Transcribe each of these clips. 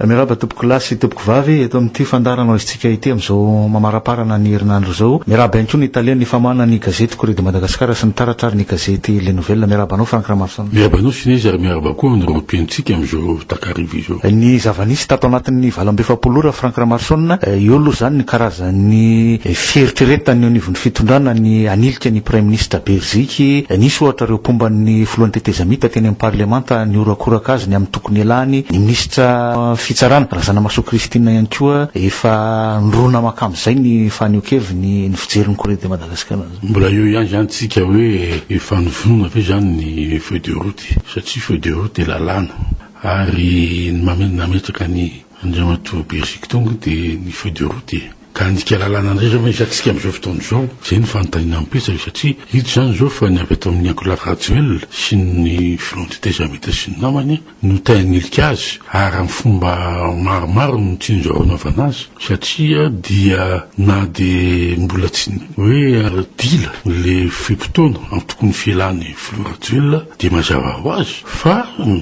Miarahaba tompoko lahy sy tompoko vavy eto amin'ity fandaharana hoaizintsika ity amin'izao mamaraparana ny herinandro izao. Miarahaba ihany koa ny tale ny famahana ny gazety Courrier de Madagascar sy ny taratra ary ny gazety Les Nouvelles. Miarahaba anao Franck Ramason. Miarahaba anao Sinez ary miarahaba koa ny rotentsika amin'izao takariva izao. Ny zava-nisy tato anatin'ny valo amby efapolo ora Franck Ramason, eo aloha izany ny karazan'ny fieritreretana eo anivon'ny fitondrana ny hanilika ny praiminisitra Beriziky. Nisy ohatra ireo mpomba ny filohan'ny tetezamita teny amin'ny parlemanta nihorakoraka azy ny amin'ny Nialany ny minisitra fitsarana, Razanamahasoa Christine ihany koa, efa nirona mankamin'izay ny fanehoan-keviny ny fijery ny Corée de Madagascar an'izao. Mbola eo ihany izany tsika hoe efa nivonona ve izany ny feuille de route satria feuille de route dia lalàna ary ny nametraka an'i Andriamatoa Bercy Kitonga dia ny feuille de route e. Ka handika lalàna indray izao ve isantsika amin'izao fotoana izao? Izay no fanontaniana mipetraka satria hita izany izao fa ny avy ato amin'ny Ankolafy Rajoel sy ny Front du Tezamita sy ny namany no te hanilika azy ary amin'ny fomba maromaro no tsinjo hanaovana azy satria dia na dia mbola tsy hoe dila le fe-potoana antokon'ny fialan'ny Filoha Rajoel dia mazava ho azy fa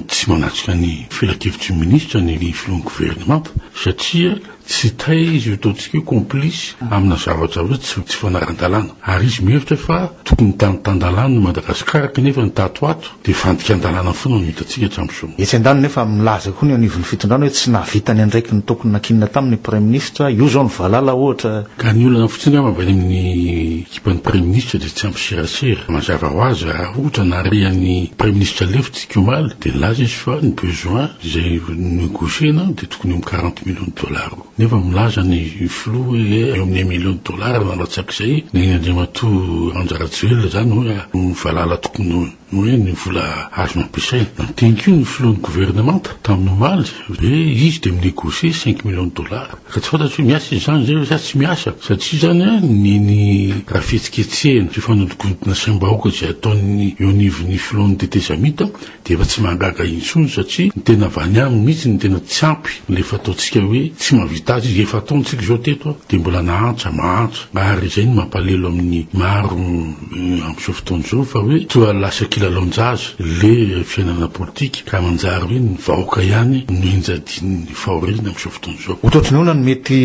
tsy manatrika ny filankevitry ny Minisitra ny Filohan'ny Governemanta satria Tsy tay izy io, ataontsika hoe complice amina zavatra hoe tsy tsy fanaran-dalàna. Ary izy mihevitra fa tokony tan tan-dalàna i Madagasikara kanefa ny tato ho ato dia fandikan-dalàna foana no hitantsika hatramin'izao. Etsy andaniny nefa milaza koa ny anivon'ny fitondrana hoe tsy nahavita ny andraikiny ny tokony nankinina taminy ny praiminisitra, io izao ny valala ohatra. Ka ny olana fotsiny angamba avy any amin'ny ekipan'ny praiminisitra dia tsy ampy serasera. Mazava ho azy raha ohatra nahare an'ny praiminisitra lefitsy ity omaly dia nilaza izy fa ny besoin. Izay negocier-na dia tokony eo amin'ny quarante millions de dollars eo. Nefa milaza ny filoha hoe eo amin'ny un million de dollars no halatsak'izay. Neny Andriamatoa Randja Rajoelina izany hoe ny valala tokony hoe ny vola azo nampiasaina. Nandinika io ny filohan'ny governemanta tamin'ny omaly hoe izy dia mi-negocier cinq millions de dollars. Ka tsy fantatro hoe miasa izy izany izay ve sa tsy miasa. Satria izany ny ny raha fihetsiketsehina sy fanodinkodina saim-bahoaka izay ataon'ny eo anivon'ny filohan'ny tetezamita dia efa tsy mahagaga intsony satria ny tena vany aminy mihitsy ny tena tsy ampy ilay fataontsika hoe tsy mahavita azy izy, efa ataontsika izao teto an, dia mbola nahantra, mahantra, ary izay no mampalelo amin'ny maro amin'izao fotoana izao fa hoe toa lasa kilalaon-jaza ilay fiainana politika ka manjary hoe ny vahoaka ihany no enjadin'ny fahoriana amin'izao fotoana. Hototonona ny mety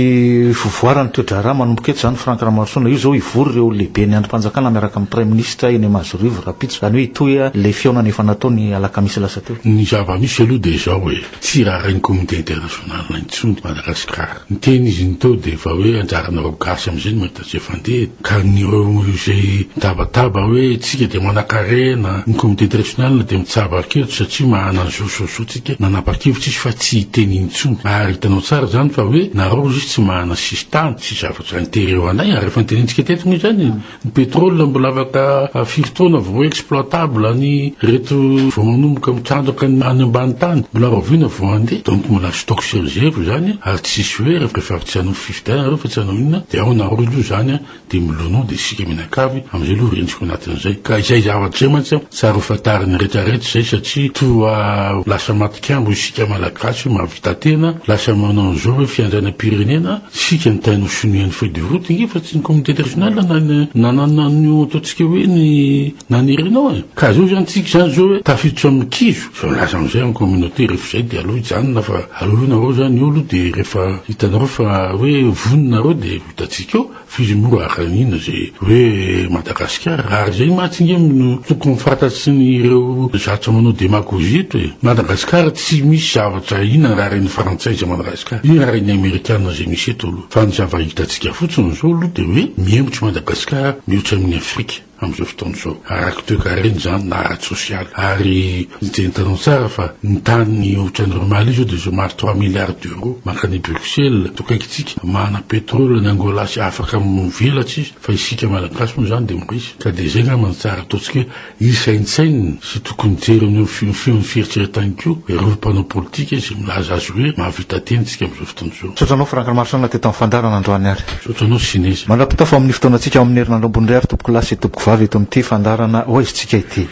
fivoaran'ny toe-draharaha manomboka eto izany Franck Ramaroson a. Io izao hivory ireo lehiben'ny andrim-panjakana miaraka amin'ny praiminisitra eny Amazorivo rahampitso, izany hoe hitohy ilay fihaonana efa natao ny alakamisy lasa teo. Ny zava-misy aloha dia izao e, tsy raharain'ny communauté internationale intsony Madagasikara. Ny teny izy niteo dia efa hoe anjaranareo gasy amin'izay no mahita. Izay fandeha ka ireo izay mitabataba hoe isika dia manankarena, ny comité directional dia mitsabo ary kely satria mahana ny zosozotsika nanapa-kevitra izy fa tsy hiteny intsony ary hitanao tsara izany fa hoe nareo izy tsy mahana sisintany sy zavatra intérêt ho anay ary efa notenenintsika teto moa izany ny pétrole mbola afaka firy taona vao exploitable ny reto vao manomboka mitrandraka ny any ambany tany mbola rahoviana vao handeha donc mbola stock sy réserve izany ary tsisy hoe rehefa avy tsy hanao Dia nareo fa tsy hanao inona dia ao nareo aloha izany a, dia milonoa dia isika mianakavy amizay aloha rentsiko anatin'izay ka izay zavatra izay mantsy a tsy ary ho fantarin'ny rehetra rehetra izay satria toa lasa matikambo isika malagasy hoe mahavita tena lasa manao an'izao hoe fiandrianam-pirenena isika ny tain'ho sonia ny feuille de route nge fa tsy ny communauté internationale na ny nanana an'io ataontsika hoe ny nanirinao e ka zao izany tsika izany zao hoe tafiditra amin'ny kizo Zao milaza amizay am communauté refa zay de aleo hijanona fa aleo io nareo zany olo de refa hitanareo fa hoe vonona nareo de ho hitantsika eo fa izy moa raha ka inona ze hoe Madagasikara raha ary zay mantsy nge no tokony fantatry ny ireo zatra manao demagogie eto e! Madagasikara tsy misy zavatra inona raha reny frantsay zay Madagasikara inona raha reny amerikana zay misy eto aloha fa ny zava hitantsika fotsiny zao aloha de hoe mihemotry Madagasikara mihoatra amin' ny Afrika. amin'izao fotoana izao, ara-toekarena izany na ara-tsosialy, ary hitanao tsara fa ny tany ohatran'ireo Mali izao dia izao maro trois milliards d'euros mankany Bruxelles, toa akaikintsika, manana pétrole any Angola sy afaka mivelatra izy, fa isika Malagasy moa izany dia mbola iza, ka dia izay angamba no tsara ataontsika hoe hisaintsainina. Tsy tokony hijery amin'io feon'ny fieritreretany koa ireo mpanao politika izay milaza azy hoe mahavita tena isika amin'izao fotoana izao. Misaotra anao Franck Ramarosaona teto amin'ny fandaharana androany ary. Misaotra anao Sinez. Mandra-pitafo amin'ny fotoanantsika ao amin'ny herinandro ambony indray ary tompoko lahy sy tompoko vavy eto amin'ity fandaharana Ho Aizintsika ity.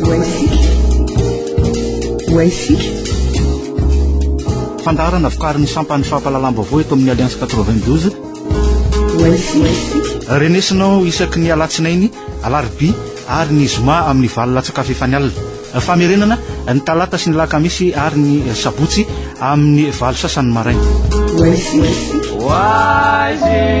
Ho Aizintsika. Ho Aizintsika. Fandaharana vokarin'ny sampan'ny fampahalalam-baovao eto amin'ny Alliance 92. Ho Aizintsika. Renesinao isaky ny alatsinainy, alarobia, ary ny zoma amin'ny valo latsa-kafa efa ny alina. Famerenana, ny talata sy ny lakamisy ary ny sabotsy amin'ny valo sasany maraina. Oasis. Oasis.